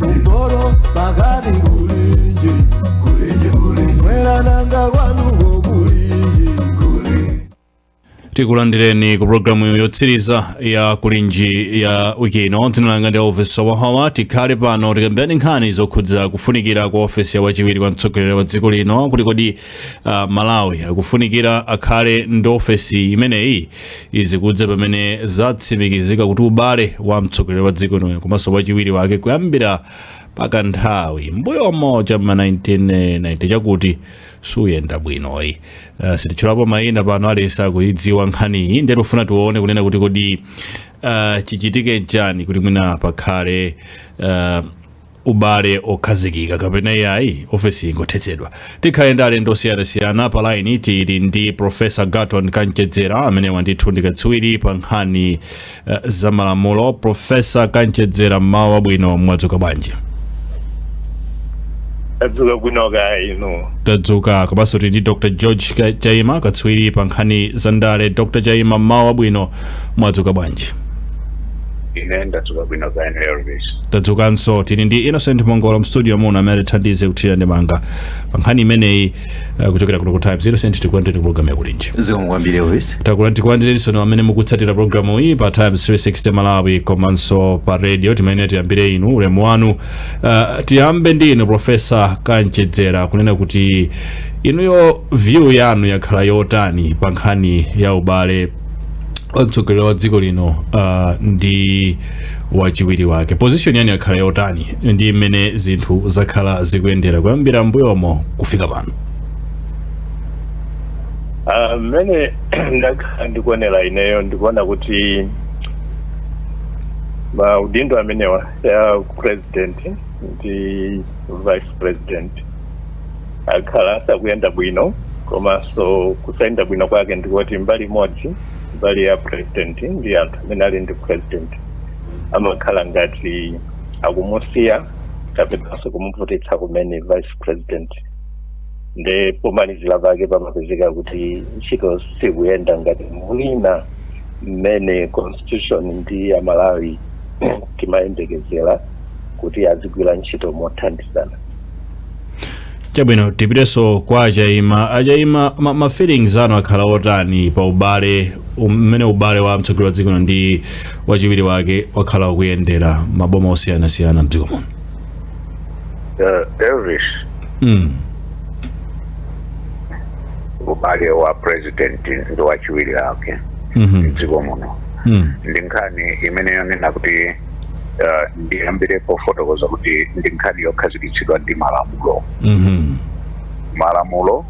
kumpoto pakati kulinji kumwera nanga kwanuko kulinji tikulandireni ku programu yotsiriza ya kulinji ya wiki ino dzina langa ndi Elvis Howahowa tikhale pano tikambirane nkhani zokhudza kufunikira kwa ofesi ya wachiwiri kwa mtsogoleri wa dziko lino kuti kodi uh, malawi akufunikira akhale ndi ofesi imeneyi izikudza pamene zatsimikizika kuti ubale wa mtsogoleri wa dziko lino komanso wachiwiri wake kuyambira pakanthawi mmbuyomo cha ma 1990 chakuti sukuyenda bwinoyi uh, sititchulapo mayina pano aliyense akuyidziwa nkhaniyi ndiye tikufuna tione kunena kuti kodi uh, chichitike chani kuti mwina pakhale uh, ubale okhazikika kapena iyayi ofesi ingothetsedwa tikhale ndi alendo osiyanasiyana pa laini tili ndi profesa Garton Kamchedzera amenewa ndithu ndi katswiri pa nkhani uh, za malamulo profesa Kamchedzera mmawa wabwino mwadzuka bwanji tadzuka bwino kaya inu tadzuka komanso tili ndi dr george Ka- chaima katswiri pa nkhani za ndale dr chaima mmawa wabwino Mwadzuka bwanji? Ine ndadzuka bwino kaya inuyo Elvis? Tadzukanso. Tili ndi Innocent Mhongolo m'studio muno amene atithandize kuthira ndemanga pa nkhani imeneyi eh, kuchokera kuno ku Times. Innocent, tikulandireni programu ya kulinji. zikomo kwambiri Elvis. Takula tikulandirensoni amene mukutsatira programu iyi pa Times 360 Malawi komanso pa radio timayenera tiyambire inu ulemu wanu. Uh, tiyambe ndi inu Profesa Kamchedzera kunena kuti inuyo view yanu yakhala yotani pa nkhani ya ubale wa mtsogoleri wa dziko lino uh, ndi wachiwiri wake position yanu yakhala yotani ndi mmene zinthu zakhala zikuyendera kuyambira mbuyomo kufika pano Ah, mmene ndakhala ndikuonera ineyo ndikuona kuti maudindo amenewa ya president ndi vice president akhala asakuyenda bwino komanso kusayenda bwino kwake ndikuti mbali imodzi mbali ya president ndi anthu amene ali ndi president amakhala ngati akumusiya kapenanso kumuvutitsa kumene vice president nde pomalizira pake pamapezeka kuti ntchito sikuyenda ngati mwina mmene constitution ndi amalawi timayembekezera kuti azigwira ntchito mothandizana chabwino tipitenso kwa achaima achaima ma, ma feelings anu akhala otani pa ubale mmene ubale wa mtsogoleri wa dziko lino ndi wachiwiri wake wakhala ukuyendera maboma osiyanasiyana mdziko muno uh, Elvis mm. ubale wa president ndi wachiwiri wake mm dziko muno mm. ndi nkhani imene yonena kuti eh, ndiyambire pofotokoza kuti ndi nkhani yokhazikitsidwa ndi malamulo Mhm. malamulo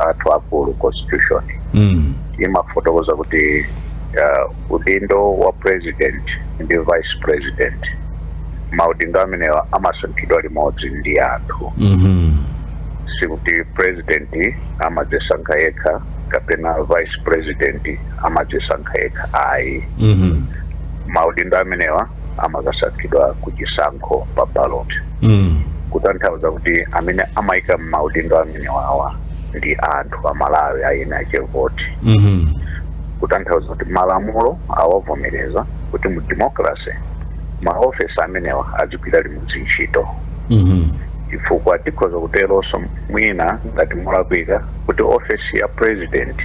athu akulu constitution Mm. imafotokoza kuti eh, udindo wa president ndi vice president maudindo amenewa amasankhidwa limodzi ndi anthu Mhm. sikuti president amadzisankha yekha kapena vice president amadzisankha yekha ayi Mhm. maudindo amenewa amakasankhidwa ku chisankho pa ballot mm. kutanthauza kuti amene amaika maudindo amenewawa ndi anthu a malawi aeni ache voti mm -hmm. kutanthauza kuti malamulo awavomereza kuti mu democracy maofesi amenewa azigwira limodzi ntchito mm -hmm. chifukwa tikhoza kuteronso mwina ngati molakwika kuti ofesi ya president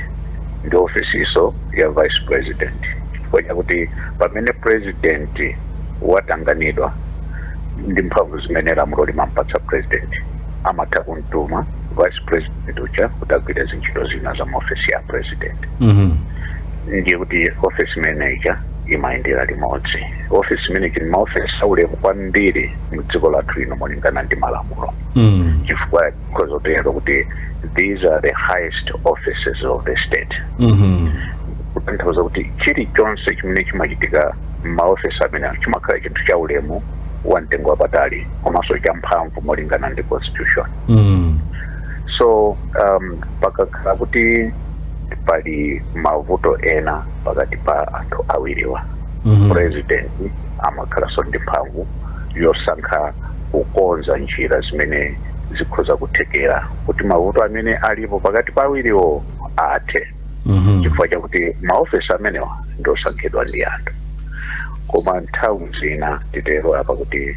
ndi ofesiso ya vice president chifukwa chakuti pamene president watanganidwa ndi mphamvu zimene lamulo limampatsa president amatha kumtuma vice president uja kuti agwire zintchito zina za maofesi ya president Mhm. ndiye kuti ofesi imene ija imayendera limodzi ofesi imene ija ndi maofesi aulemu kwambiri mdziko lathu lino molingana ndi malamulo Mm. chifukwa tikhoza kutero kuti these are the highest offices of the state kutanthauza kuti chilichonse chimene chimachitika m'maofesi amene chimakhala chinthu cha ulemu wa mtengo wapatali komanso cha mphamvu molingana ndi constitution so um, pakakhala kuti pali mavuto ena pakati pa anthu awiriwa president amakhalanso ndi mphamvu yosankha kukonza njira zimene zikhoza kuthekera kuti mavuto amene alipo pakati pa awiriwo athe Mhm. chifukwa chakuti maofesi amenewa ndi osankhidwa ndi anthu koma nthawi zina titero apa kuti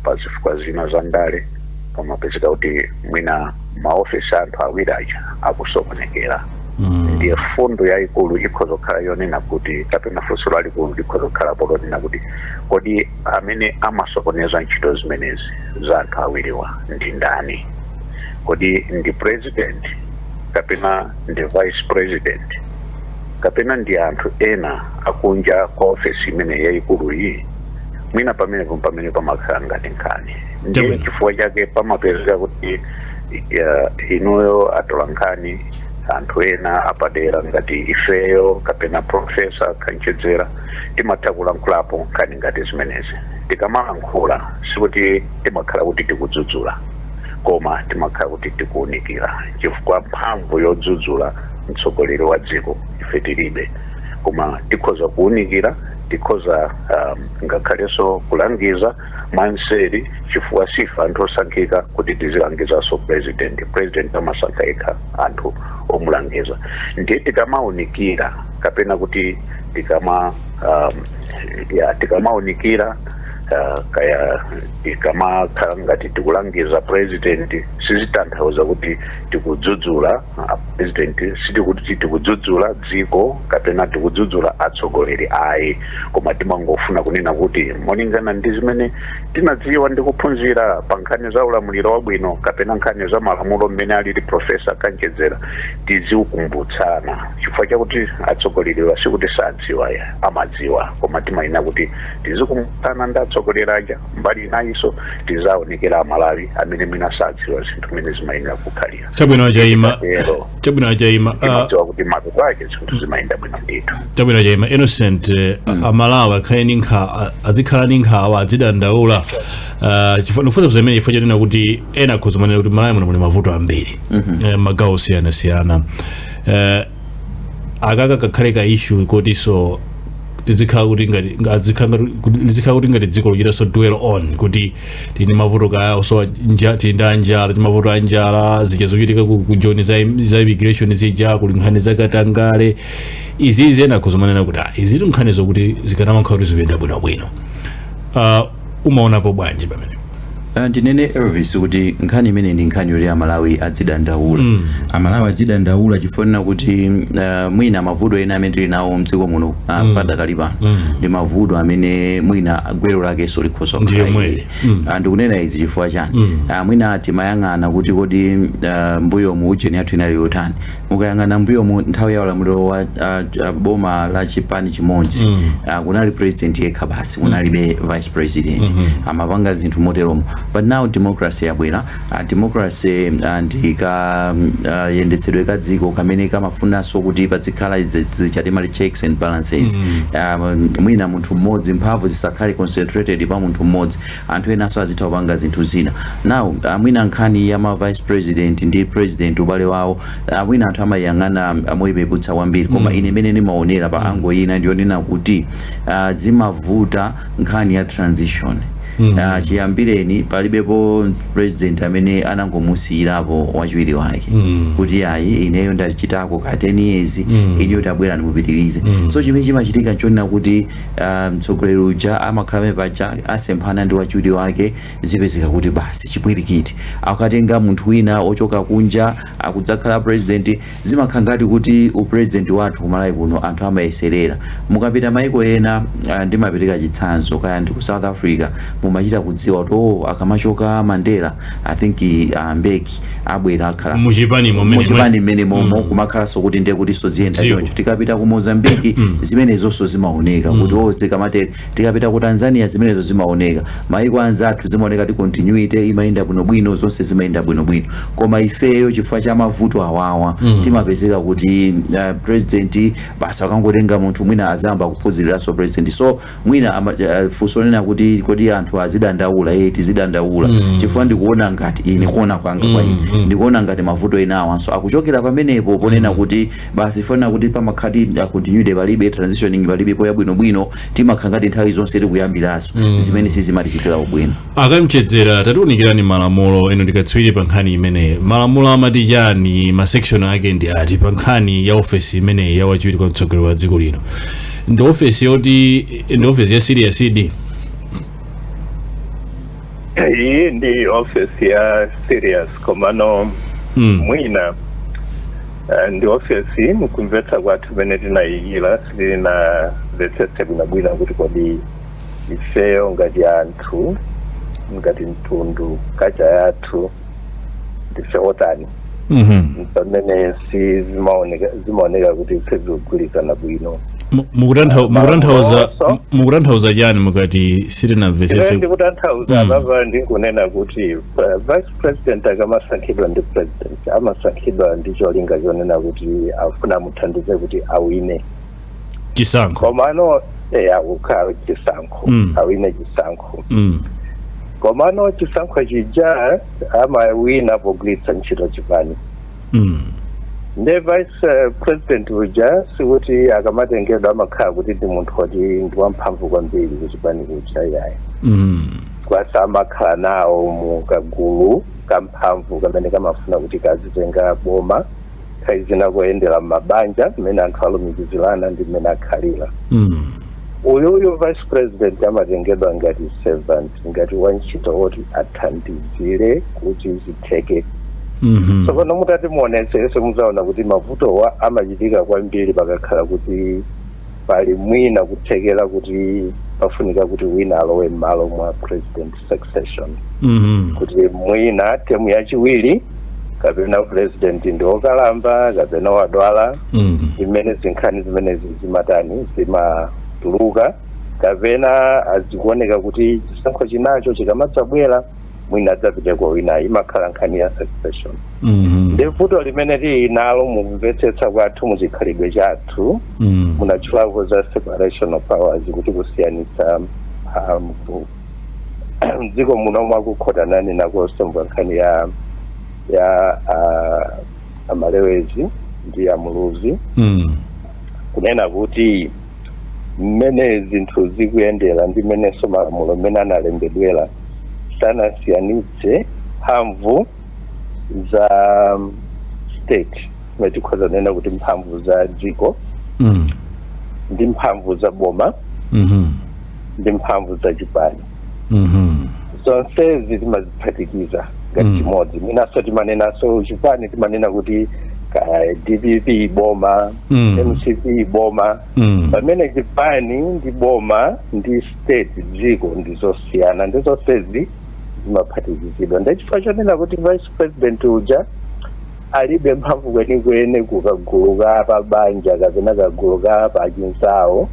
pa zifukwa zina za ndale pamapezeka kuti mwina maofesi a anthu awiri aja akusokonekera Mm. ndiye fundo yayikulu ikhoza kukhala yonena kuti kapena funso lalikulu likhoza kukhala polonena kuti kodi Amene amasokoneza ntchito zimenezi za anthu awiriwa ndi ndani? Kodi ndi president kapena ndi vice president kapena ndi anthu ena akunja kwa ofesi imeneyi yayikuluyi? Mwina pamenepo mpamene pamakhala ngati nkhani. Ndiye Chabwino. chifukwa chake pamapezeka kuti eh, inuyo atolankhani anthu ena apadera ngati ifeyo kapena profesa Kamchedzera timatha kulankhulapo nkhani ngati zimenezi. Tikamalankhula sikuti timakhala kuti tikudzudzula koma timakhala kuti tikuunikira, chifukwa mphamvu yodzudzula mtsogoleri wa dziko ife tilibe, koma tikhoza kuunikira, tikhoza um, ngakhalenso kulangiza mwanseri, chifukwa sife anthu osankhika kuti tizilangizanso president. President amasankha yekha anthu omulangiza, ndiye tikamaunikira kapena kuti tikama um, ya tikamaunikira uh, kaya tikamakhala ngati tikulangiza president sizitanthauza kuti tikudzudzula uh, president sikuti tikudzudzula dziko kapena tikudzudzula atsogoleri ayi koma timangofuna kunena kuti molingana ndi zimene tinadziwa ndi kuphunzira pa nkhani za ulamuliro wabwino kapena nkhani za malamulo mmene alili profesa Kanchedzera tizikumbutsana Chifukwa chakuti atsogoleriwa sikuti sadziwa ya, amadziwa koma timayenera kuti tizikumbutsana ndi atsogoleri aja. Mbali inayinso tizaunikira Amalawi amene mwina sadziwa zinthu mmene zimayenera kukhalira. Chabwino chaima. Tikatero Chabwino chaima. Ah, timadziwa kuti mapeto ake zinthu zimayenda bwino ndithu. chabwino chaima innocent eh, amalawi akhale ndi nkhawa azikhala ndi nkhawa adzidandaula Ah, chifukwa ndikufunsa zimenezi chifukwa chonena kuti ena akhoza kumanena kuti malawi muno muli mavuto ambiri eh, magawo osiyanasiyana eh, akaka kakhale ka issue kotinso tizikhala kuti ngati nga- azikhala ngati- kuti- lizikhala kuti ngati dziko lochitaso dwell on kuti tili ndi mavuto ka osowa nja- tinda njala ti mavuto a njala zija zochitika ku ku joni za im- za immigration zija kuli nkhani za katangale izi izi ena akhoza kumanena kuti ah, izi ndi nkhani zokuti zikanamakhala kuti zikuyenda bwinobwino Ah, mumaonapo bwanji pamene Uh, ndinene elvis kuti nkhani imeneyi ndi nkhani yoti amalawi adzidandaula mm. amalawi adzidandaula chifukwa chonena kuti uh, mwina mavuto ena amene tili nawo mdziko muno uh, mm. padakali pano mm. ndi mavuto amene mwina gwero lakenso likhoza Ndiyo kukhala mwene. ili. Uh, ndikunena izi chifukwa chani uh, mwina timayang'ana kuti kodi uh, mbuyomu ujeni yathu inali yotani mukayang'ana mbuyomu nthawi ya ulamuliro wa ah, ah, boma la chipani chimodzi ah, kunali president yekha basi kunalibe vice president amapanga zinthu moteromo but now democracy yabwera ah, democracy ah, ndi ka- mm, ah, yendetsedwe ka dziko kamene kamafunanso kuti padzikhala izi- zija timati checks and balances Ah, mwina munthu mmodzi mphamvu zisakhale concentrated pa munthu mmodzi anthu enanso azitha kupanga zinthu zina now mwina nkhani ya ma vice president ndi president ubale wawo ah, mwina anthu amayang'ana ah, moipeputsa kwambiri koma ine mmene ndimaonera pa ango ina ndiyonena kuti ah, zimavuta nkhani ya transition Ah, chiyambireni palibepo president amene anangomusiyirapo wachiwiri wake kuti ayi ineyo ndachitako ka 10 years inuyo tabwera ndi mupitirize so chimene chimachitika nchonena kuti mtsogoleri uja amakhala pamene paja asemphana ndi wachiwiri wake zipezeka kuti basi chipwirikiti akatenga munthu wina wochoka kunja akadzakhala president zimakhala ngati kuti upresident wathu ku Malawi kuno anthu amayeserera mukapita maiko ena ah, ndimapereka chitsanzo kaya ndi ku south africa mumachita kudziwa kuti oh, akamachoka mandela i think uh, mbeki abwera akhala muchipani mmene momo mm. kumakhalanso kuti ndiye kutinso ziyenda choncho tikapita ku mozambiki mm. zimenezonso zimaoneka mm. kuti o oh, zikamatere tikapita ku tanzania zimenezo zimaoneka maiko anzathu zimaoneka kuti continuity imayenda bwinobwino zonse zimayenda bwinobwino koma ifeyo chifukwa cha mavuto awawa timapezeka kuti uh, president basi akangotenga munthu mwina azayamba kuphunziriranso president so mwina ama, uh, funso lonena kuti kodi anthu azidandaula eh tizidandaula mm. chifukwa ndikuona ngati ine kuona kwanga mm. kwa ine mm. ndikuona ngati mavuto ena awanso akuchokera pamenepo ponena mm. kuti basi chifukwa chonena kuti pamakhati uh, continuity palibe transitioning palibe po yabwinobwino timakhala ngati nthawi zonse tikuyambiraso mm. zimene sizimatichitira ubwino a Kamchedzera tatiunikirani malamulo inu ndi katswiri pa nkhani imeneyi malamulo amati chani masection ake ndi ati pa nkhani ya ofesi imeneyi ya wachiwiri kwa mtsogoleri wa dziko lino ndi ofesi yoti ndi ofesi ya serious di iyi ndi ofesi ya serious komano mm. mwina eh, ndi ofesi mkumvetsa kwathu mmene tinayikira sitinamvetsetse bwinobwino kuti kodi ifeyo ngati anthu ngati mtundu kacha yathu ndife otani Mhm. pamene si zimaoneka zimaoneka kuti sizikugwirizana bwino Mu- mukutantha- mukutanthauza Mafunso. mukutanthauza chani mukati sitinamvetsetse ndikutanthauza Mm. apapa ndikunena kuti uh, vice president akamasankhidwa ndi president amasankhidwa ndi cholinga chonena kuti afuna amuthandize kuti awine chisankho komano eya kukhala chisankho Mm. awine chisankho mm. komano chisankho chija amawina pogwiritsa ntchito chipani Mm. nde vice eh, president uja sikuti akamatengedwa amakhala kuti ndi munthu woti ndi wamphamvu kwambiri kuchipani kuja yayi Mm. kwasa amakhala nawo mu kagulu kamphamvu kamene kamafuna kuti kazitenga boma nthawi zina koyendera m'mabanja mmene anthu alumikizirana ndi mmene akhalira mm. uyuyu vice president amatengedwa ngati servant ngati wantchito woti athandizire kuti zitheke mhm. tsopano mutati muonetsetse mudzaona kuti mavutowa amachitika kwambiri pakakhala kuti pali mwina kuthekera kuti pafunika kuti wina alowe m'malo mwa president succession Mhm. kuti mwina temu yachiwiri kapena president ndi wokalamba kapena wadwala Mhm. zimene zinkhani zimenezi zimatani zimatuluka kapenanso zikuoneka kuti chisankho chinacho chikamadzabwera mwina adzapite kwa wina imakhala nkhani ya succession Mhm. ndi vuto limene tili nalo mukumvetsetsa kwathu mu chikhalidwe chathu Mhm. munatchulapo za separation of powers kuti kusiyanitsa mphamvu mdziko muno mwakukhota nane ndakonzanso nkhani ya ya ah, amalewezi ndi amuluzi Mm. kunena kuti mmene zinthu zikuyendera ndi mmenenso malamulo mmene analembedwera sanasiyanitse mphamvu za um, state zimene tikhoza kunena kuti mphamvu za dziko Mm. ndi mphamvu za boma Mhm. ndi mphamvu za chipani Mhm. zonsezi timaziphatikiza ngati Mm. chimodzi mwinanso timanenanso chipani timanena kuti kaya dpp boma Mm. mcp boma Mm. pamene chipani ndi boma ndi state dziko ndi zosiyana nde zonsezi zimaphatikizidwa nde chifukwa chonena kuti vice president uja alibe mphamvu kwenikweni kukagulu ka pa banja kapena kagulu ka pa chinzawo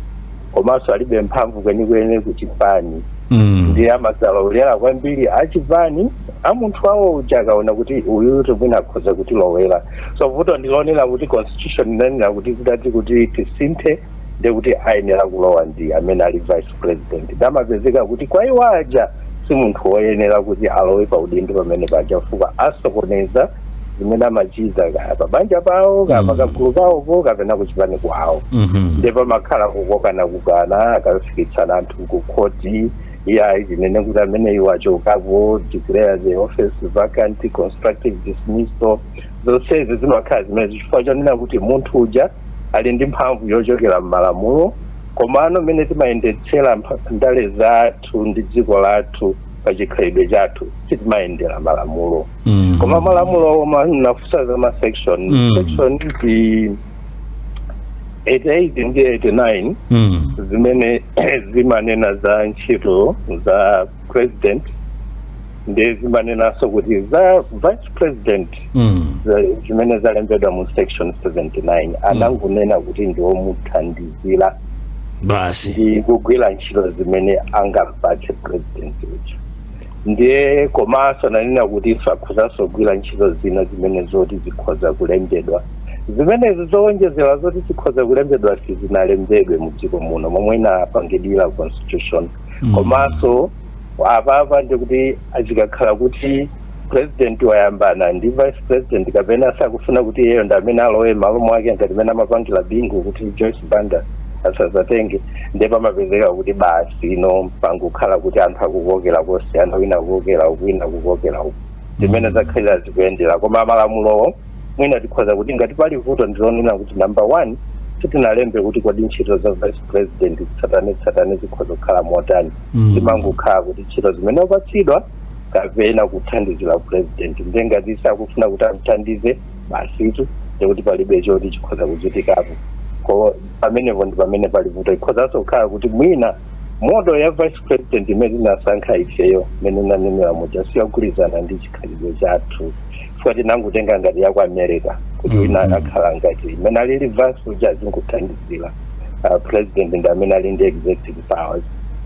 komanso alibe mphamvu kwenikweni ku chipani Mm. ndiye amadzalowerera kwambiri achipani a munthu wawo uja akaona kuti uyutu mwina akhoza kutilowera so vuto ndilonena kuti constitution inanena kuti zitati kuti tisinthe nde kuti ayenera kulowa ndi amene ali vice president nde amapezeka kuti kwa iwo aja si munthu woyenera kuti alowe pa udindo pamene paja chifukwa asokoneza zimene amachita kaya pabanja pawo kaya Mm. pakagulu kawopo kapena kuchipani kwawo Mhm. nde pamakhala kukokanakokana akafikitsana anthu kukhoti iyayi tinene kuti amene iwo achokapo declare the office vacant constructive dismissal zonsezi zimakhala zimenezi chifukwa chonena kuti munthu uja ali ndi mphamvu yochokera m'malamulo komano mmene timayendetsera mpha- ndale za thu ndi dziko lathu pa chikhalidwe chathu sitimayendera malamulo Mm. koma malamulowo munafunsa za masection Mm. section ndi 88 ndi 89 Mm. zimene zimanena za ntchito za president ndiye zimanenanso kuti za vice president Mm. za- zimene zalembedwa mu section 79 anangonena kuti ndi womuthandizira basi ndi kugwira ntchito zimene angampatse president uja ndiye komanso ananena kuti akhozanso kugwira ntchito zina zimene zoti zikhoza kulembedwa zimenezi zowonjezera zoti zikhoza kulembedwa sizinalembedwe mu dziko muno momwe inapangidwira constitution komanso Apapa ndiye kuti zikakhala kuti president wayambana ndi vice president kapena sakufuna kuti iyeyo ndi amene alowe m'malo mwake ngati mmene amapangira Bingu kuti Joyce Banda asazatenge ndiye pamapezeka kuti basi you know pangokhala kuti anthu akukokera kosiyana wina akukokera uku wina akukokera uku ndimene zakhalira zikuyendera koma malamulowo mwina tikhoza kuti ngati pali vuto ndilonena kuti number one sitinalembe kuti kodi ntchito za vice president tsatanetsatane zikhoza kukhala motani Mm. zimangokhala kuti ntchito zimene wapatsidwa kapena kuthandizira president nde ngati sakufuna kuti amthandize basitu ndekuti palibe choti chikhoza kuchitikapo ko pamenepo ndi pamene pali vuto ikhozanso kukhala kuti mwina model ya vice president imene tinasankha ifeyo mmene ndanenera muja siyagwirizana ndi chikhalidwe chathu chifukwa tinangotenga ngati ya ku america kuti wina akhala ngati mmene alili vice uja azingothandizira uh, president ndi amene ali ndi executive powers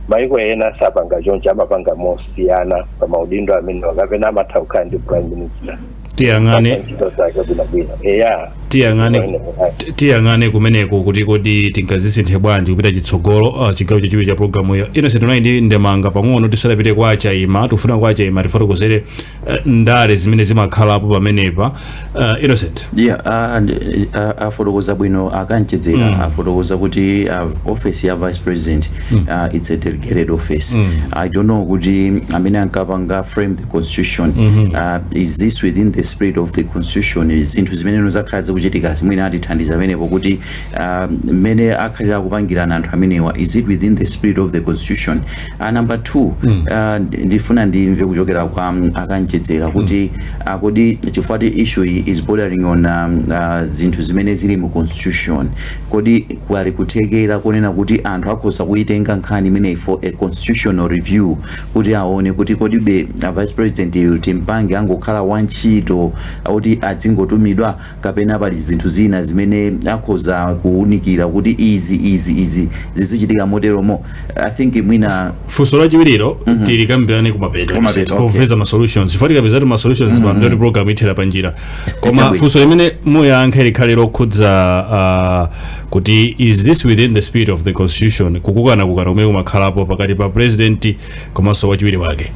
maiko ena sapanga choncho amapanga mosiyana pa maudindo amenewa kapena amatha kukhala ndi prime minister tiyang'ane ntchito zake bwinobwino eya tiyang'ane ti- tiyang'ane kumeneko kuti kodi tingazisinthe bwanji kupita chitsogolo uh, chigawo chachiwiri cha programu iyo ino sitinayi ndi ndemanga pang'ono tisadapite kwa achaima tikufuna kwa achaima atifotokozere eh, ndale zimene zimakhalapo pamenepa eh, innocent yeah a- and- a- afotokoza bwino akanchedzera afotokoza kuti uh, office ya vice president uh, it's a delegated office i don't know kuti amene ankapanga frame the constitution uh, is this within the spirit of the constitution zinthu zimene zakhala zikuchitika mwina atithandize pamenepo kuti uh, mmene akhalira kupangirana anthu amenewa is it within the spirit of the constitution Uh, number two mm. uh, ndifuna ndimve kuchokera kwa um, akanchedzera kuti mm. uh, kodi chifukwa choti issue iyi is bordering on um, uh, zinthu zimene zili mu constitution kodi pali kuthekera konena kuti anthu akhoza kuyitenga nkhani imeneyi for a constitutional review kuti aone kuti kodibe uh, vice president yu timpange angokhala wantchito woti adzingotumidwa kapena pali zinthu zina zimene akhoza kuwunikira kuti izi izi izi zizichitika moteromo i think mwina funso lachiwiriro mm -hmm. tilikambirane kumapeto kumapeto okay. kupeza ma solutions chifukwa tikapezatu ma solutions mm -hmm. ndekuti program ithera pa njira koma funso limene muyankhe likhale lokhudza uh, kuti is this within the spirit of the constitution kukokanakokana kumene kumakhalapo pakati pa president komanso wachiwiri wake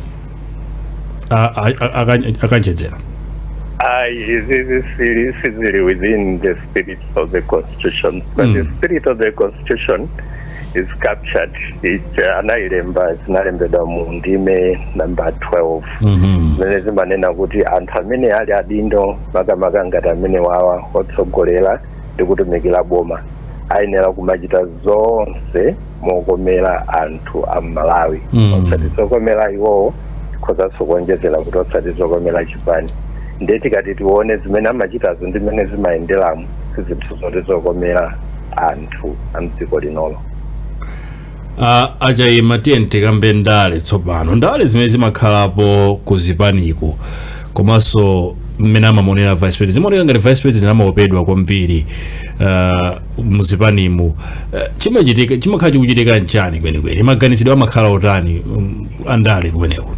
a- a- a- aka- a Kanchedzera Aye, it is it is easily within the spirit of the Constitution. But the spirit of the Constitution is captured. It uh, anailemba zinalembedwa mu ndime number 12 zimene zimanena kuti anthu amene ali adindo makamaka ngati amene wawa otsogolera ndi kutumikira boma ayenera kumachita zonse mokomera anthu a m'malawi Mm. osati zokomera iwowo tikhozanso kuonjezera kuti osati zokomera chipani ndiye tikati tione zimene amachitazo ndi mmene zimayenderamo si zinthu zoti zokomera anthu a mdziko linolo Ah, a Chaima tiyeni tikambe ndale tsopano ndale zimene zimakhalapo ku zipaniko komanso mmene amamonera vice president zimaoneka ngati vice president amaopedwa kwambiri Ah, muzipanimu eh, chimachitika chimakhala chikuchitika nchani kwenikweni maganizidwe amakhala otani um, andale kumeneko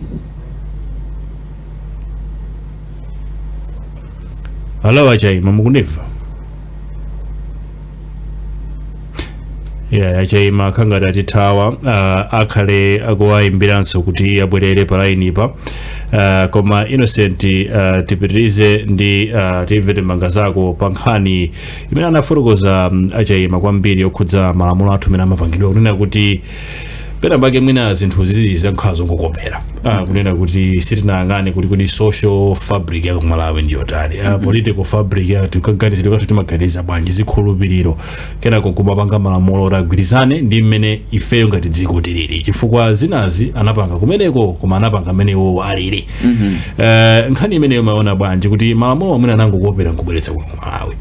halo a Chaima mukundimva ya a Chaima akhangati atithawa uh, akhale akuwayimbiranso kuti abwerere pa lainipa uh, koma Innocent uh, tipitirize ndi uh, timve ndemanga zako pa nkhani imene anafotokoza mm, a Chaima kwambiri yokhudza malamulo athu amene amapangidwa kunena kuti pena pake mwina zinthu zizi zangokhala zongokopera ah, kunena kuti sitinayang'ane kuti kuti social fabric ya ku Malawi ndi yotani ah, political fabric ya kaganizidwe kathu timaganiza bwanji zikhulupiriro kenako kumapanga malamulo oti agwirizane ndi mmene ifeyo ngati dziko tilili chifukwa zinazi anapanga kumeneko koma anapanga mmene iwowo alili Eh, nkhani imeneyo mumaona bwanji kuti malamulo amene anangokopera nkubweretsa kuno Malawi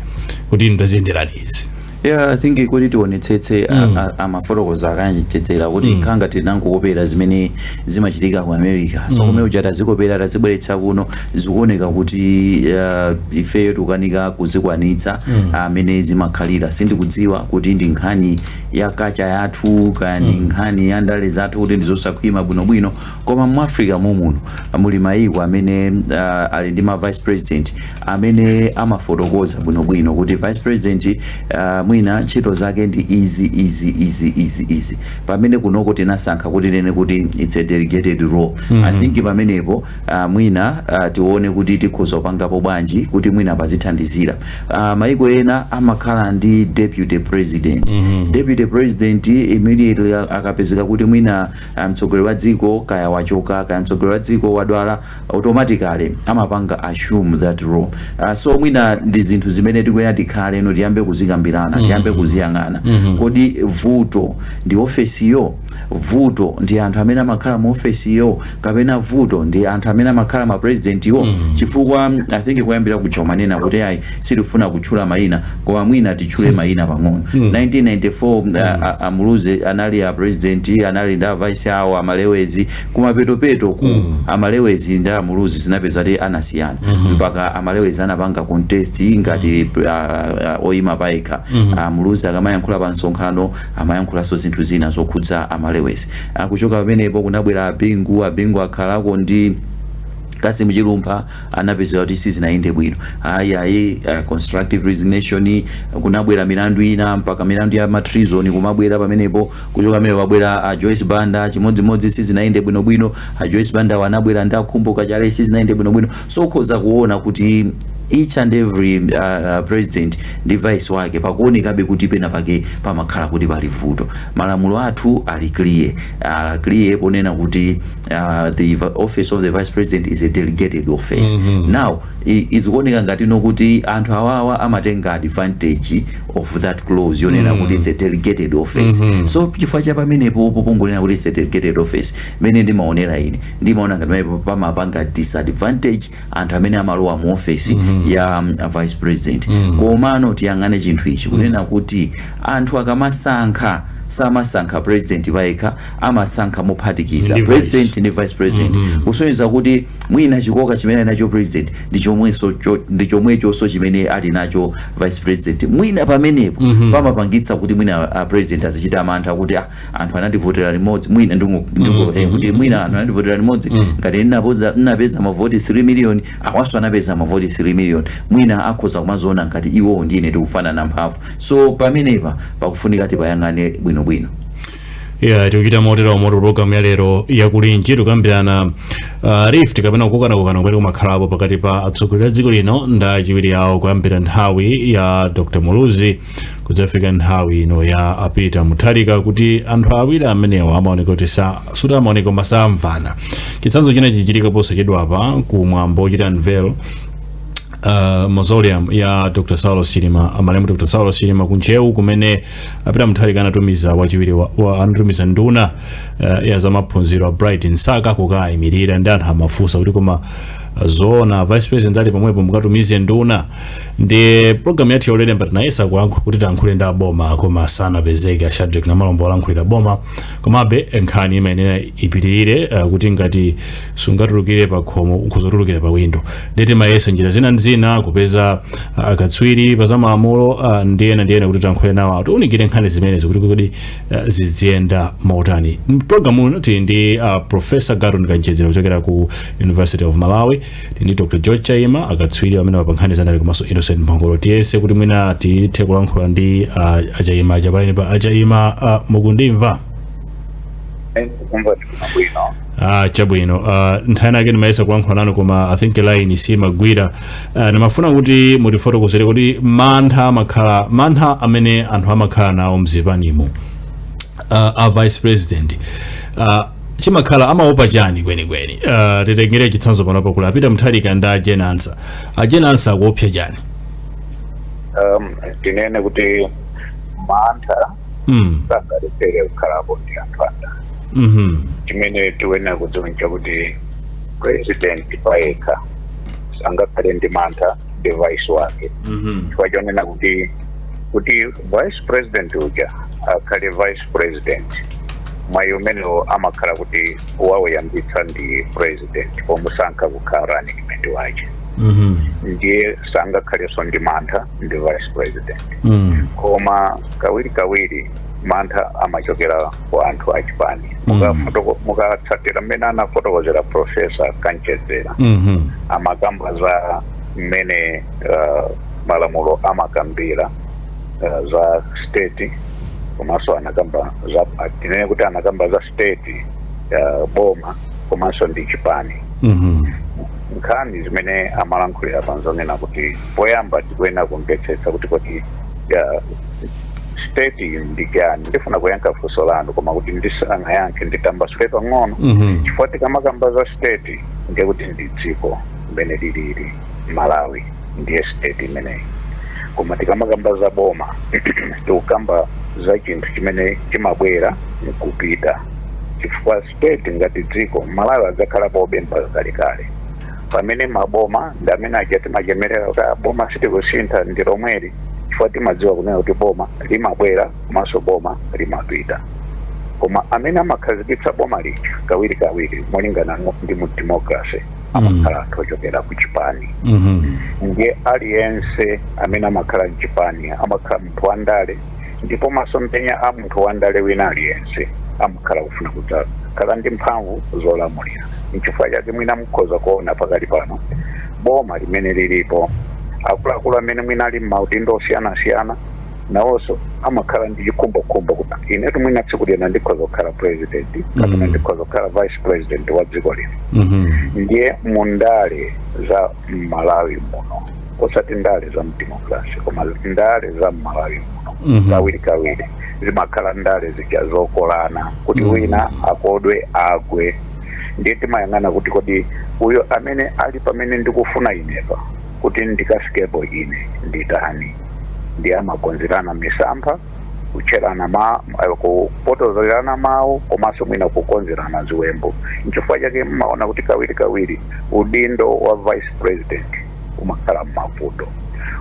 kuti inu taziyenderani izi yeah i think kuti tionetsetse mm. amafotokoza a Kanchedzera kuti mm. khangati tinangokopera zimene zimachitika ku America so mm. kumene kuja tazikopera tazibweretsa kuno zikuoneka kuti uh, ifeyo tikukanika kuzikwanitsa mm. mmene zimakhalira sindikudziwa kuti ndi nkhani ya kacha yathu kaya ndi mm. nkhani ya ndale zathu kuti ndizosakhwima bwinobwino koma mu Africa mommuno muli mayiko amene uh, ali ndi ma vice president amene amafotokoza bwinobwino kuti vice president uh, mwina ntchito zake ndi izi izi izi izi izi pamene kunoko tinasankha kuti tinene kuti it's a delegated role mm -hmm. i mhm. think pamenepo uh, mwina uh, tione kuti tikhoza kupangapo bwanji kuti mwina pazithandizirako uh, mayiko ena amakhala ndi deputy president mm -hmm. deputy president immediately akapezeka kuti mwina Kaya mtsogoleri wa dziko kaya wachoka, kaya mtsogoleri wa dziko wadwala, automatically amapanga assume that role. So mwina ndi zinthu zimene tikuyenera tikhale no tiyambe kuzikambirana, tiyambe kuziyang'ana. Kodi vuto ndi ofesiyo? Vuto ndi anthu amene amakhala mu ofesiyo? Kapena vuto ndi anthu amene amakhala ma presidentiwo? Chifukwa I think koyambirira kuja umanena kuti ayi sitifuna kutchula mayina. koma mwina titchule mayina pang'ono 1994 a- a- a Muluzi anali a president anali ndi a vice awo a Malewezi kumapetopetoku a Malewezi ndi a Muluzi zinapezeka kuti anasiyana mpaka a Malewezi anapanga contest ngati a- a- oyima payekha a Muluzi akamayankhula pa msonkhano amayankhulanso zinthu zina zokhudza a Malewezi kuchoka pamenepo kunabwera a Bingu a Bingu akhalako ndi a Cassim Chilumpha zinapezeka kuti sizinayende bwino ayi ayi uh, constructive resignation kunabwera milandu ina mpaka milandu ya ma treason kumabwera pamenepo kuchoka pamenepo wabwera a Joyce Banda chimodzimodzi sizinayende bwino bwino a Joyce Banda anabwera ndi a Khumbo Kachali sizinayende bwino bwino so ukhoza kuona kuti each and every uh, uh, president ndi vice wake pakuonekabe kuti pena pake pamakhala kuti pali vuto malamulo athu ali clear uh, clear ponena kuti Uh, the vi- office of the vice president is a delegated office mm -hmm. now i- izikuoneka ngati no kuti anthu awawa amatenga advantage of that clause yonena kuti it's a delegated office mm -hmm. so chifukwa cha pamenepo popongonena kuti it's a delegated office mene ndimaonera ine ndimaona ngati pamenepo pamapanga disadvantage anthu amene amalowa mu office mm -hmm. ya um, a vice president mm -hmm. komano tiyang'ane chinthu ichi kunena kuti anthu akamasankha samasankha president payekha amasankha mophatikiza Ndi president vice. ndi vice president kusonyeza kuti mwina chikoka chimene ali nacho president ndi chomwenso cho- ndi chomwechonso chimene ali nacho vice president mwina pamenepo pamapangitsa kuti mwina a president azichita mantha kuti ah, anthu anandivotera limodzi mwina ndingo- ndingo- eh, kuti mwina anthu anandivotera limodzi ngati ndinapoza- ndinapeza mavoti 3 million awanso anapeza mavoti 3 million mwina akhoza kumaziona ngati iwowo ndine tikufanana mphamvu so pamenepa pakufunika tipayang'ane bwinobwino ya tikuchita motero mu programu ya lero ya Kulinji tikukambirana uh, rift kapena kukokanakokana kumene kumakhalapo pakati pa atsogoleri a dziko lino ndi achiwiri awo kuyambira nthawi ya dr muluzi kudzafika nthawi ino ya a Peter Mutharika kuti anthu awiri amenewa amaoneka kuti sa- sikuti amaoneka koma samvana chitsanzo china chichitika posachedwapa ku mwambo wochita unveil uh, mausoleum ya dr saulos chilima amalemu dr saulos chilima ku Ntcheu kumene a Peter Mutharika anatumiza wachiwiri wa- wa- anatumiza nduna eh, ya zamaphunziro a Bright Msaka kukayimirira ndi anthu amafunsa kuti koma eh, zoona vice president ali pomwepo mukatumize nduna ndi programu yathu ya lero mbwa tinayesa kuyankhu- kuti tiyankhule ndi aboma koma sanapezeke a Shadric Namalomba olankhulira boma komabe nkhani imayenera ipitirire eh, kuti ngati sungatulukire pa khomo ukudzatulukira pa windo nde timayesa njira zina ndi zina kupeza ah, akatswiri pa zamalamulo ah, ndi ena ndi ena kuti tankhule nawo awo atiunikire nkhani zimenezi kuti kodi ah, ziziyenda motani mpulogalamu uno tili ndi ah, professor Garton Kamchedzera kuchokera ku university of malawi tili ndi dr george chaima akatswiri amene wa pa nkhani zandale komanso innocent mphongolo tiyese kuti mwina tithe kulankhula ndi ah, a Chaima aja pameneapa a Chaima ah, mukundimva Ah, chabwino uh, nthawi yake ndimayesa kuyankhula nanu koma i think line siimagwira uh, ah, ndimafuna kuti mutifotokozere kuti mantha amakhala mantha amene anthu amakhala nawo mzipanimo uh, ah, a vice president uh, chimakhala amaopa chani kwenikweni uh, titengere chitsanzo panopo kuli a Peter Mutharika ndi a Jane Ansah a Jane Ansah akuopsa chani um, tinene kuti mantha mm. sangalephere kukhalapo ndi anthu andale mm-hmm. chimene tiyenera kudziwa nchakuti president payekha sangakhale ndi mantha ndi vice wake mm-hmm. chifukwa chonena kuti kuti vice president uja akhale vice president mwayi umenewo amakhala kuti wawuyambitsa ndi president pomusankha kukhala running mate wache mm-hmm. ndiye sangakhalenso ndi mantha ndi vice president Mm. koma kawiri kawiri mantha amachokera kwa anthu achipani Mukafoto- mukatsatira mmene anafotokozera profesa Kamchedzera Mhm. amakamba za mmene uh, malamulo amakambira uh, za state komanso anakamba za tinene kuti anakamba za state uh, boma komanso ndi chipani Mhm. nkhani zimene amalankhulira pa zonena kuti poyamba tikuyenera kumvetsetsa kuti kodi ya, state iyi ndi chani ndifuna kuyankha funso lanu koma kuti ndisanayankhe nditambasule pang'ono Mhm. chifukwa tikamakamba za state ndiye kuti ndi dziko limene lilili malawi ndiye state imeneyi koma tikamakamba za boma tikukamba za chinthu chimene chimabwera nkupita chifukwa state ngati dziko malawi adzakhalapobe mpaka kalekale pamene maboma ndi amene aja timachemerera kuti "Ah, boma sitikusintha ndi lomweli chifukwa timadziwa kunena kuti boma limabwera komanso boma limapita koma amene amakhazikitsa boma lija kawirikawiri molingana no- ndi mu democracy amakhala anthu ochokera ku chipani Mhm. ndiye aliyense amene amakhala mchipani amakhala munthu wandale ndipo masomphenya a munthu wandale wina aliyense amakhala kufuna kudzakhala ndi mphamvu zolamulira nchifukwa chake mwina mukhoza kuona pakali pano boma limene lilipo akuluakulu amene mwina ali m'maudindo osiyanasiyana nawonso amakhala ndi chikhumbokhumbo kuti inetu mwina tsiku lina ndikhoza kukhala president kapena ndikhoza kukhala vice president wa dziko lino Mhm. ndiye mundale za m'malawi muno osati ndale za mdemokrasi koma ndale za m'malawi muno Mhm. kawiri kawiri zimakhala ndale zija zokolana kuti Mhm. wina akodwe agwe ndiye timayang'ana kuti kodi uyo amene ali pamene ndikufuna inepa kuti ndikafikepo ine nditani ndiye amakonzerana misampha kutcherana mm eh, kupotozerana mawu komanso mwina kukonzerana ziwembu nchifukwa chake mmaona kuti kawiri kawiri udindo wa vice president umakhala mmavuto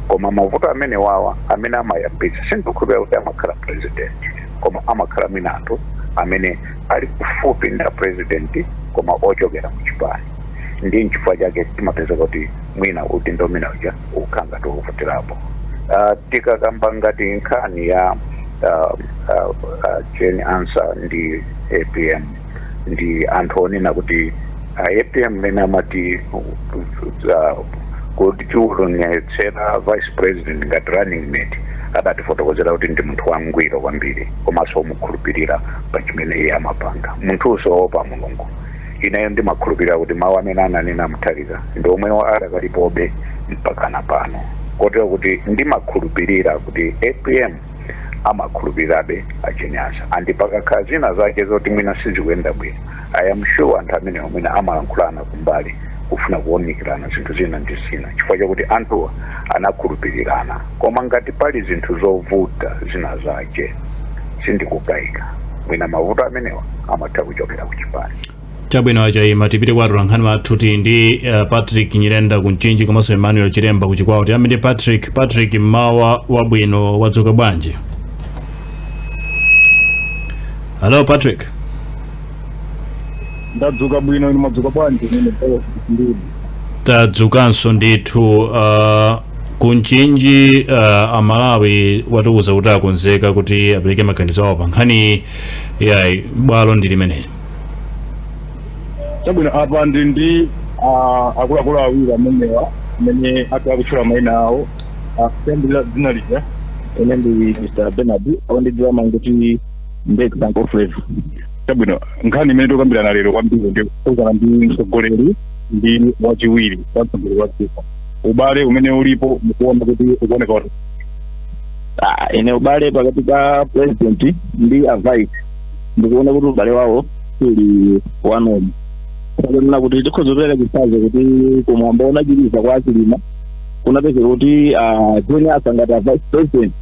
koma mavuto amene wawa amene amayambitsa sindikukhulupirira kuti amakhala president koma amakhala mwina anthu amene ali kufupi ndi a president koma ochokera mu chipani ndi nchifukwa chake timapeza kuti mwina udindo umene uja umakhala ngati ukuvutirapo Ah, tikakamba ngati nkhani ya ah, ah, ah, Jane Ansah ndi apm ndi anthu onena kuti ah, apm mene amati ah, kuti akutionetsera vice president ngati running mate adatifotokozera kuti ndi munthu wangwiro kwambiri komanso omukhulupirira pa chimene iye amapanga munthunso woopa mulungu Ineyo ndimakhulupirira kuti mawu amene ananena a Mutharika ndi omwewo adakalipobe mpakana pano, kotero kuti ndimakhulupirira kuti apm amakhulupirirabe a Jane Ansah ndipo pakakhala zina zake zoti mwina sizikuyenda bwino, I am sure anthu amenewa mwina amalankhulana kumbali kufuna kuunikirana zinthu zina ndi zina chifukwa chakuti anthuwa anakhulupirirana. Koma ngati pali zinthu zovuta zina zake, sindikukaika. mwina mavuto amenewa amatha kuchokera ku chipani chabwino a Chaima tipite kwa atolankhani athu tili ndi uh, patrick nyirenda ku mchinji komanso emmanuel chiremba ku chikwawa tiyambe ndi patrick patrick mmawa wabwino wadzuka bwanji halo patrick ndadzuka bwino inu mwadzuka bwanji mene ndiri tadzukanso ndithu uh, ku mchinji uh, amalawi atiuza kuti akonzeka kuti apereke maganizo awo pa nkhani iyi bwalo ndi limeneli chabwino apa ndili ndi ah, akuluakulu awiri amenewa amene ati atchule maina awo akuyambira dzina lija ine ndi mr bernard ondidziwa amangoti mbeki banko flavor chabwino nkhani imene tikukambirana lero kwambiri ndi yokhudzana ndi mtsogoleri ndi wachiwiri wa mtsogoleri wa dziko ubale umene ulipo mukuona kuti ukuoneka kuti Ah, ine ubale pakati pa president ndi a vice ndikuona kuti ubale wawo suli bwino kunena kuti tikhoza kupereka chitsanzo kuti kumwambo wotsiriza kwa achilima kunapezeka kuti a Jane Ansah ngati a vice president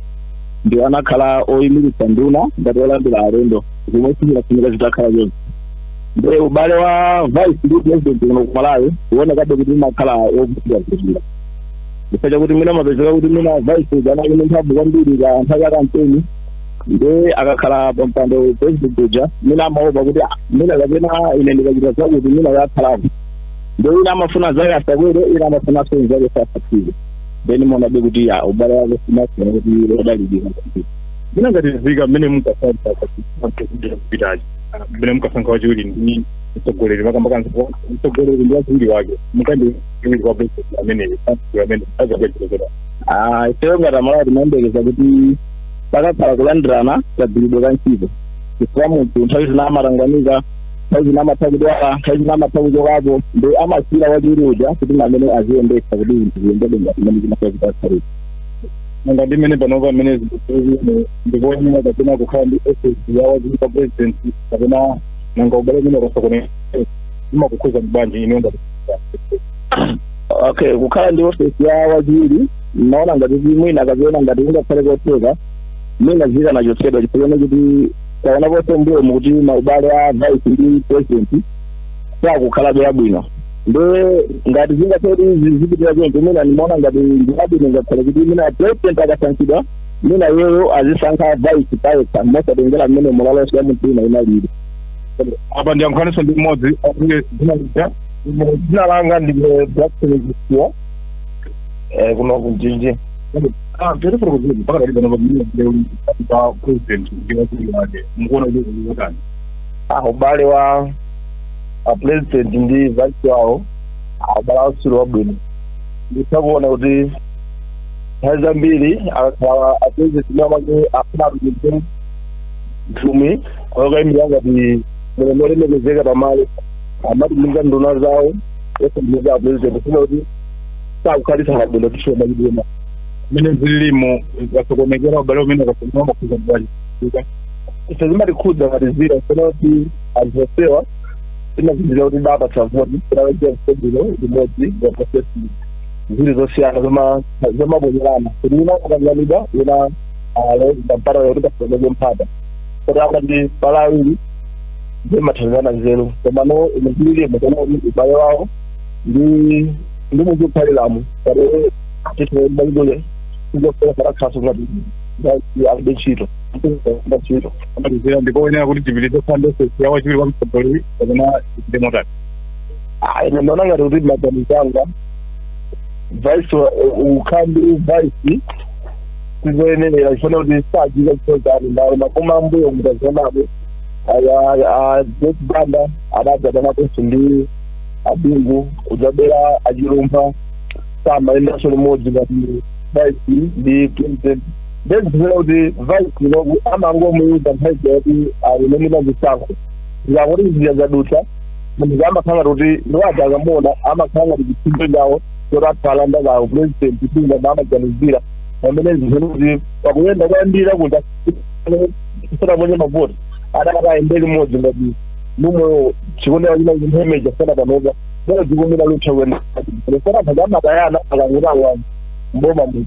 ndiwo anakhala oyimiritsa nduna ngati olandira alendo zomwe sizinafunika zitakhala chonchi Nde ubale wa vice ndi president kuno ku Malawi uonekabe kuti umakhala ovutika kwambiri. Chifukwa chakuti mwina amapezeka kuti mwina vice uja anali ndi mphamvu kwambiri pa nthawi ya kampeni nde akakhala pa mpando president uja mwina amaopa kuti "Ah, mwina kapena ine ndikachita zakuti mwina yakhalako. Nde wina amafuna nzake asakwere, wina amafuna nzake asakwere. Then muonabe kuti ya ubale wake sumakhala kuti odalirika kwambiri. Mwina ngati nzika mmene mukasankha kuti kupitaje. mmene mukasankha wachiwiri ndi mtsogoleri makamakanso mtsogoleri ndi wachiwiri wake mukandi wachiwiri kwa president ameneyo pastor amene azapedzekera Ah, ifeyo ngati amalawi timayembekeza kuti pakakhala kulandirana kagwiridwe ka ntchito chifukwa munthu nthawi zina amatanganika nthawi zina amatha kudwala nthawi zina amatha kuchokapo nde amasiyira wachiwiri uja kuti amene aziyendetsa kuti zinthu ziyendebe ngati mmene zimasazitasarira monga ndi mmene panopa mmene zinthu ndikuonera kapena kukhala ndi office ya wachiwiri kwa president kapena nanga ubale umene ukasokonekera zimakukhudza bwanji inu ngati okay kukhala ndi ofesi ya wachiwiri naona ngati kuti mwina ndikaziona ngati kungakhale kotheka mwina ikanachotsedwa chifukwa kuti taona ponse mbuyomu kuti maubale a vice ndi president sakukhalabe abwino nde ngati zingakhale kuti izi zipitira choncho mwina ndimaona ngati ndibwino ngakhale kuti mwina president akasankhidwa mwina iyeyo azisankha vice payekha mosatengera mmene malamulo athu ena alili apa ndiyankhulenso ndi mmodzi akuye dzina lija Ine dzina langa ndine Jackson Zisiwa eh, kuno ku Mchinji tirifurukuzizi pa ubale wa president ndi wachiwiri wake mukuona kuti zili zotani ah, ubale wa a president ndi vice wawo ubale wawo suli wabwino nditha kuona kuti nthawi zambiri akakhala a president ndi amene afuna atumize nthumwi yokayimira ngati mlendo olemekezeka pamalo amatumiza nduna zawo osatumiza a president kusonyeza kuti sakukhalitsana bwino tishiwa machitidwe mmene zililimu zasokonekera ubale umene ukasokonekera zimakukhudzani bwanji ife zimatikhudza ngati zira sona kuti anthu onsewa tinazindikira kuti ndapatsa voti kunaweza msebino limodzi wa prosesi ziri zosiyana zoma- zomabonyerana kuti wina akakanganidwa wina aloweza mpata kuti pasoweke mpata kuti akati pali awiri zimathandizana nzeru komano imizililimo kana kuti ubale wawo ndi ndi munthu ukhaliramo kati titibaibuye sizofera katakhaso ngati alibe ntchito ntchito amalizira ndi koyenera kuti tipitirize phande sesi ya wachiwiri kwa mtsogoleri kapena tichite motani ine ndinaona ngati kuti maganizo anga vice wa- u- ukhala ndi vice tizoyenelera chifukwa kuti saziwa chochita nawo m'mbuyomu mutazaonapo Joyce Banda adadzadanaponso ndi a Bingu kudzabwera a Chilumpha samayendanso limodzi ngati vice ndi president nde zikuoneka kuti vice inoku amangomuyuza nthawi kuti ali nene mazisankho zikakuti zija zadutsa munthu amakhala kuti ndiwati akamuona amakhala ngati chipsinjo chawo kuti atha kulanda kawo pulezidenti sindinga maamaganizira pamene zikuoneka kuti pakuyenda kuyambira kuja sanaponye mavoti adakati ayende limodzi ngati mmoyo chikuonera china chimhemeja sana panopa nde zikuonera lutha kuenda sana pano amatayana akalowa m'boma muti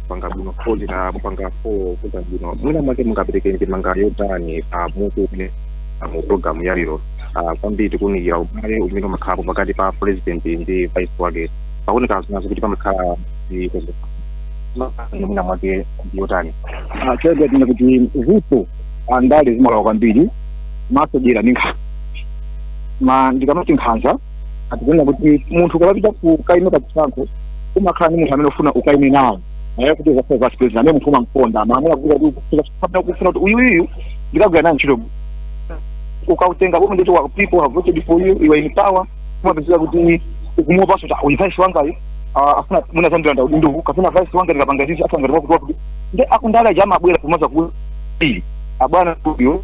panga bwino follow ndimapanga follow za bwino mwina mwake mungapereke ndemanga yotani pa mutu umene uli, mu programu ya lero ah, kwambiri tikunikira ubale umene umakhalapo pakati pa president ndi vice wake pakuoneka zina zoti pamakhala zikozo mwina mwake yotani Ah, choyamba tinene kuti vuto andale zimalowa kwambiri m'zadyera ndi nkhanza ndikamati nkhanza tikunena kuti munthu ukapita kukaima pa chisankho umakhala ndi munthu amene ufuna ukaime naye kuti uzakhale vice president amene munthu umamkonda malamulo akuti kuti ukufuna kapena ukufuna kuti uyuyu ndikagwira naye ntchito ukalitenga boma nditi the people have voted for you you are in power umapezeka kuti ukumuopanso kuti uyu vice wangayo ah, afuna mwina azandilanda udindo uwu kapena vice wanga ndikapanga izizi afuna ngati wakuti wakuti nde akundale aja amabwera kumazati abwana uyu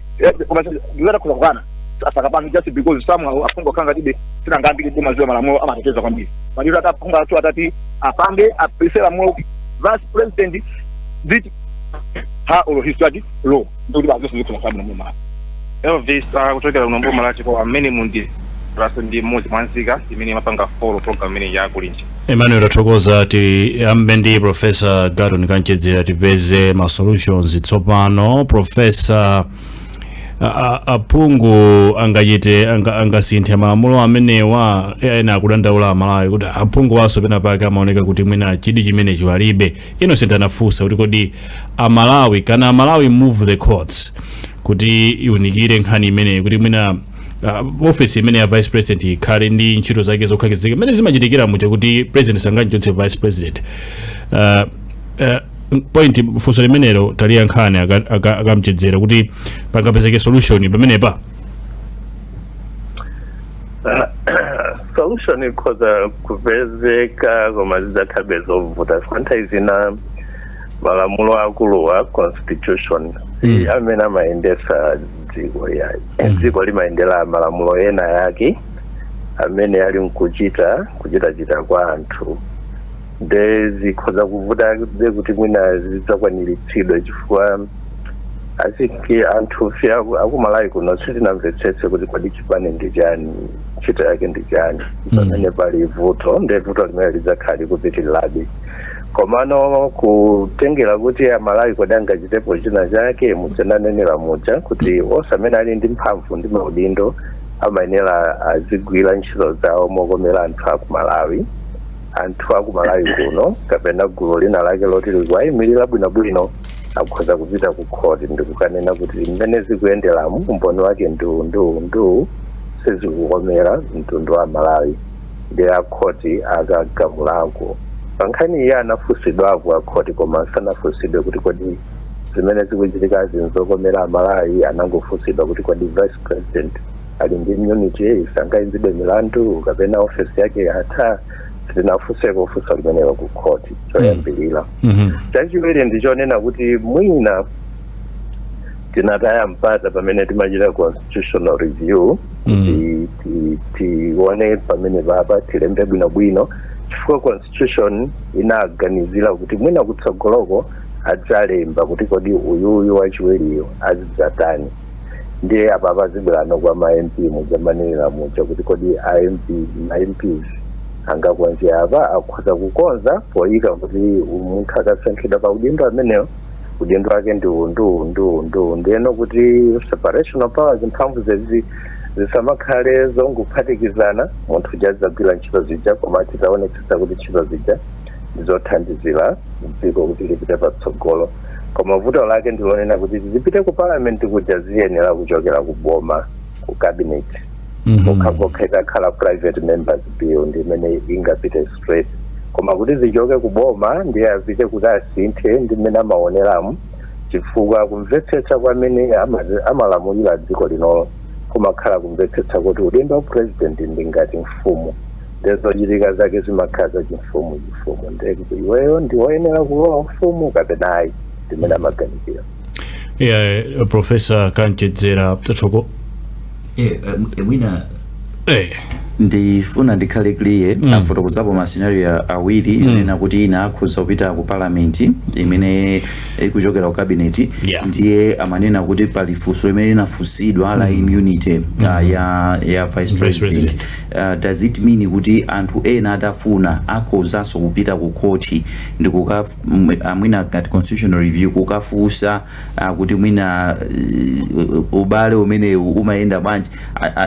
Eh, koma ndiyenera kukana asakapange just because some aphungu kanga tibe tinangambiri timadziwa malamulo amateteza kwambiri maliro aphungu athu atati apange apase lamulo vice president did ha or his study law ndikuti bazonse zikula kwabwino mu malamulo elvis akuchokera kuno mboma lachiko amene muli inunso ndi mmodzi mwa nzika imene imapanga follow program imene ya Kulinji emmanuel tathokoza tiyambe ndi profesa Garton Kamchedzera tipeze ma solutions tsopano profesa a- a- aphungu angachite anga- angasinthe malamulo amenewa ena akudandaula amalawi kuti aphunguwanso pena pake amaoneka kuti mwina chidwi chimenechi alibe Innocent anafunsa kuti kodi amalawi can amalawi move the courts kuti iunikire nkhani imeneyi kuti mwina uh, office imene ya vice president ikhale ndi ntchito zake zokhazikika imene zimachitikira muja kuti president sangamchotse vice president uh, uh, point funso limenelo taliya nkhani aka- aka- akamchedzera kuti pangapezeke solution pamenepa solution ikhoza kupezeka koma zidzakhalabe zovuta nthawi zina malamulo akulu a constitution amene amayendesa dziko iyayi dziko limayendera malamulo ena yake amene ali nkuchita kuchitachita kwa anthu nde zikhoza kuvutabe kuti mwina zidzakwaniritsidwe chifukwa i think anthu fe akumalawi kuno sitinamvetsetse kuti kodi chipani ndi chani ntchito yake ndi chani mm. pamene pali vuto nde vuto limene lidzakhala likupitirirabe Komano kutengera kuti amalawi kodi angachitepo china chake muja munanenera muja kuti onse amene ali ndi mphamvu ndi maudindo amayenera azigwira ntchito zawo mokomera anthu aku malawi anthu aku malawi kuno kapena gulu lina lake loti likuwayimirira bwinobwino akhoza kupita ku khoti ndi kukanena kuti mmene zikuyenderamu umboni wake nduwu nduwu nduwu sizikukomera mtundu wa malawi nde akhoti akagamulako. Pankhani iyi anafunsidwako akhoti koma sanafunsidwe kuti kodi zimene zikuchitikazi nzokomera Amalawi anangofunsidwa kuti kodi vice president ali ndi immunity sangaimbidwe milandu kapena ofesi yake yatha sitinafunseko funso limenelo kukhoti choyambirira. Chachiwiri ndichonena kuti mwina tinataya mpata pamene timachita constitutional review kuti ti- tione pamenepapa tilembe bwinobwino chifukwa constitution inaganizira kuti mwina kutsogoloko adzalemba kuti kodi uyuyu wachiwiriyo azidzatani ndiye apa pazibwerano kwa ma mp muja mumanenera muja kuti kodi a mp ma mps angakonze apa akhoza kukonza poyika kuti munthu akasankhidwa pa udindo amenewo udindo wake ndi uwu ndi uwu ndi uwu ndi uwu ndiyeno kuti separation of powers mphamvu zezi zisamakhale zongophatikizana munthu uja adzagwira ntchito zija koma tidzaonetsetsa kuti ntchito zija ndizothandizira dziko kuti lipite patsogolo koma vuto lake ndilonena kuti zipite ku parliament kuja ziyenera kuchokera ku boma ku cabinet Mhm. pokhapokha itakhala private members bill ndi imene ingapite straight koma kuti zichoke ku boma ndiye apite kuti asinthe ndi mmene amaoneramu chifukwa kumvetsetsa kwa amene ama- amalamulira dziko linolo kumakhala kumvetsetsa kuti udindo wa president ndi ngati mfumu nde zochitika zake zimakhala za chimfumu chimfumu nde iweyo ndi woyenera kulowa ufumu kapena ayi ndimene amaganizira yeah, uh, professor kanchedzera tatoko eh, eh, mwina eh. ndifuna ndikhale clear mm. afotokozapo mascenario awiri mm. inena kuti ina akhoza kupita ku parliament imene ikuchokera ku cabinet yeah. ndiye amanena kuti pali funso limene linafunsidwa mm. la immunity mm. uh, ya, ya vice president uh, does it mean kuti anthu ena atafuna akhozanso kupita ku khoti ndikuka mwina ngati constitutional review kukafusa kuti mwina uh, ubale umenewu umayenda bwanji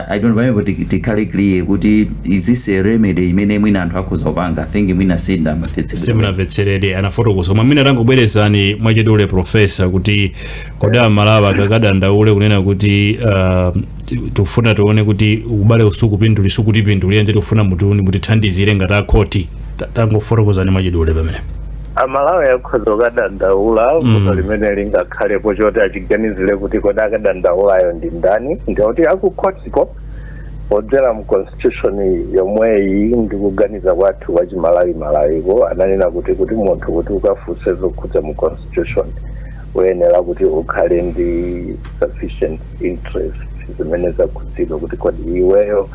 i don't know but tikhale clear kuti is this a remedy imene mwina anthu akhoza kupanga think mwina sinda simnamvetsere anafotokoza koma mwina tangobwerezani mwachidule profesa kuti kodi amalawi akakadandaule kunena kuti uh, tufuna tione kuti ubale usukupinduli sukutipindulira nde tufuna mutiuni mutithandizire ngati akhoti Ta- tangofotokozani mwachidule pamene amalawi akhoza kukadandaula vuto limene lingakhalepo choti achiganizire kuti kodi akadandaulayo ndi ndani ndikuti akukhotiko kudzera mu constitution yomweyi ndi kuganiza kwathu kwa chimalawi malawiko ananena kuti kuti munthu kuti ukafunse zokhudza mu constitution uyenera kuti ukhale ndi sufficient interest zimene zakhudzidwa kuti kodi iweyo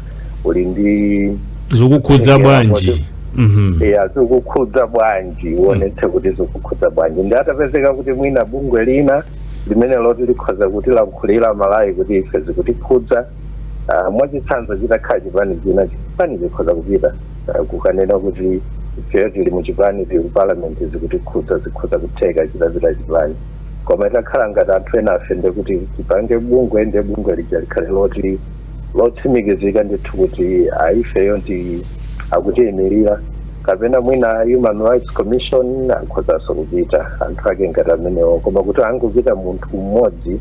uli ndi zikukhudza bwanji kuti- Mhm. ya zikukhudza bwanji uonetse kuti zikukhudza bwanji nde atapezeka kuti mwina bungwe lina limene loti likhoza kutilankhulira malawi kuti ife zikutikhudza Uh, mwachitsanzo chitakhala chipani china chipani chikhoza kupita uh, kukanena kuti ifeyo tili mu chipani tili ku parliament zikutikhudza zikhoza kutheka chitapita chipani koma itakhala ngati anthu enafe nde kuti tipange bungwe nde bungwe lija likhale loti lotsimikizika ndithu kuti ai ifeyo ndi akutiyimirira kapena mwina human rights commission akhozanso kupita anthu ake ngati amenewo koma kuti angopita munthu mmodzi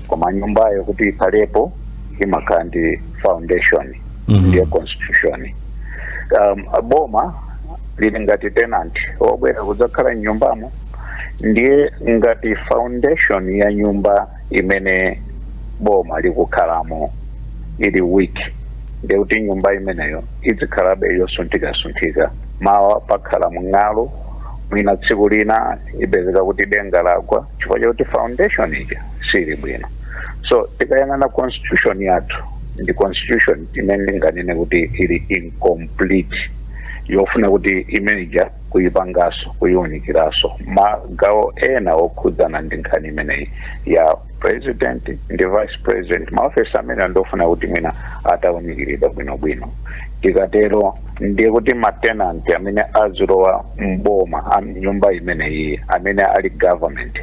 koma nyumbayo kuti ikhalepo imakhala ndi foundation Mhm. ndiyo constitution um, boma lili ngati tenant obwera kudzakhala mnyumbamo ndiye ngati foundation ya nyumba imene boma likukhalamo ili weak ndiye kuti nyumba imeneyo idzikhalabe yosunthikasunthika mawa pakhala mng'alu mwina tsiku lina ipezeka kuti denga lagwa chifukwa chakuti foundation ija siili bwino so tikayang'ana constitution yathu ndi constitution imene ndinganene kuti ili incomplete yofuna kuti imene uja kuyipangaso kuyiunikiraso magawo ena okhudzana ndi nkhani imeneyi ya president ndi vice president maofesi amenewa ndofuna kuti mwina atawunikiridwa bwinobwino tikatero ndiye kuti matenanti amene azilowa mboma nyumba imene iyi amene ali government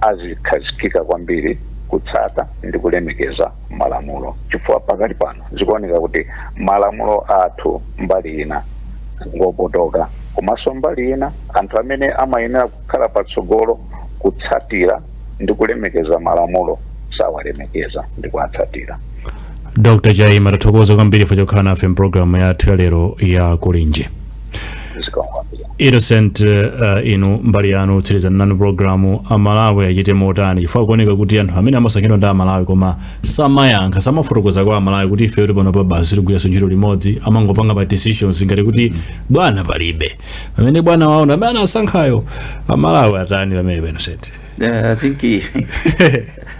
azikhazikika kwambiri kutsata ndi kulemekeza malamulo chifukwa pakati pano zikuoneka kuti malamulo athu mbali ina ngopotoka komanso mbali ina anthu amene amayenera kukhala patsogolo kutsatira ndi kulemekeza malamulo sawalemekeza ndi kuwatsatira dr chaima tathokoza kwambiri chifukwa chokhala nafe mpulogalamu yathu ya lero ya kulinji zikomo kwambiri innocent uh, inu mbali yanu titsirize nanu programu amalawi achite motani chifukwa kuoneka kuti anthu amene amasankhidwa ndi amalawi koma samayankha samafotokoza kwa amalawi kuti ife kuti pano pa basi sitigwiranso ntchito limodzi amangopanga ma decisions ngati kuti bwana palibe pamene bwana wawo ndi amene anasankhayo amalawi atani pamenepa Innocent Uh, I think eh,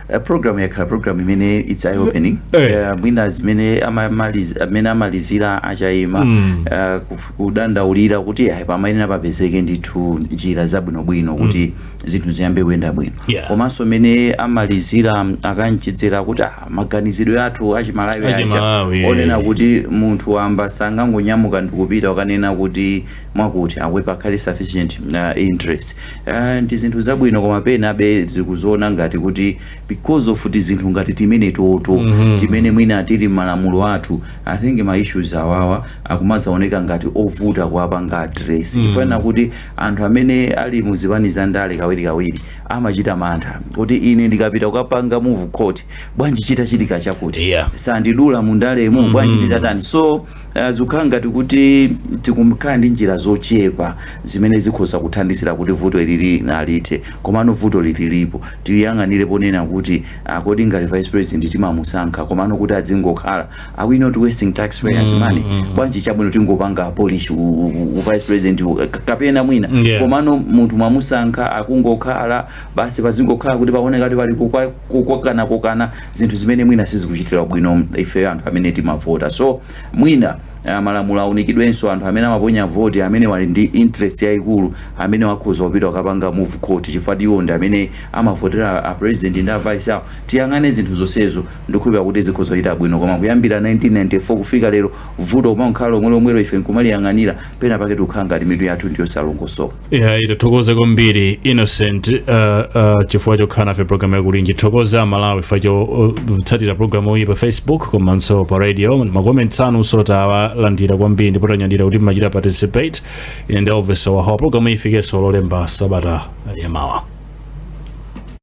a program yakhala program imene it's eye opening Eh. uh, mwina zimene amamaliz- mmene amalizira a Chaima uh, kuf- kudandaulira kuti ayi pamayenera papezeke ndithu njira zabwinobwino kuti zinthu ziyambe kuyenda bwino Yeah. komanso mene amalizira um, a Kanchedzera kuti ah, maganizidwe athu achimalawi aja Achimalawi, eh. onena kuti munthu wamba sangangonyamuka ndikupita akanena kuti mwakuti akuti pakhale sufficient uh, interest uh, ndi zinthu zabwino koma penabe zikudzaoneka ngati kuti because of tizinthu ngati timenetoto mm -hmm. timene mwina tili mmalamulo athu i think ma issues awawa akumazaoneka ngati ovuta kuwapanga address mm -hmm. chifukwa chakuti anthu amene ali muzipani za ndale kawiri kawiri amachita mantha kuti ine ndikapita kukapanga move court bwanji chitachitika chakuti Yeah. sandidula mundalemo bwanji nditatani so uh, zikukhala ngati kuti tikukhala ndi njira zochepa zimene zikhoza kuthandizira kuti vuto ilili lithe komano vuto ili lilipo tiliyang'anire ponena kuti kodi ngati vice president timamusankha komano kuti adzingokhala are we not wasting taxpayers mm, money mm, mm. bwanji chabwino tingopanga abolish u, u, u vice president u, kapena mwina yeah. komano munthu mwamusankha akungokhala basi pazingokhala kuti paoneka ngati pali kukokana kokana zinthu zimene mwina sizikuchitira bwino ifeyo anthu amene timavota so mwina Eh, malamulo aunikidwenso anthu amene amaponya voti amene ali ndi interest yaikulu amene akhoza kupita akapanga move court chifukwa iwo ndi amene amavotera a president ndi a vice awo tiyang'ane zinthu zonsezo Ndikukhulupirira kuti zikhoza kuchita bwino koma kuyambira 1994 kufika lero vuto kumangokhala lomwelomwelo ife nkumaliyang'anira, pena pake tikukhala ngati mitu yathu ndiyosalongosoka. Iyayi tathokoza kwambiri Innocent uh, uh, chifukwa chokhala nafe programu ya Kulinji ndithokoze aMalawi chifukwa chotsatira uh, programu iyi pa Facebook komanso pa radio. Makomenti anunso tawalandira kwambiri ndipo tanyadira kuti mmachita participate ine ndi Elvis Howahowa. Programu iyi ifikenso lolemba sabata yamawa.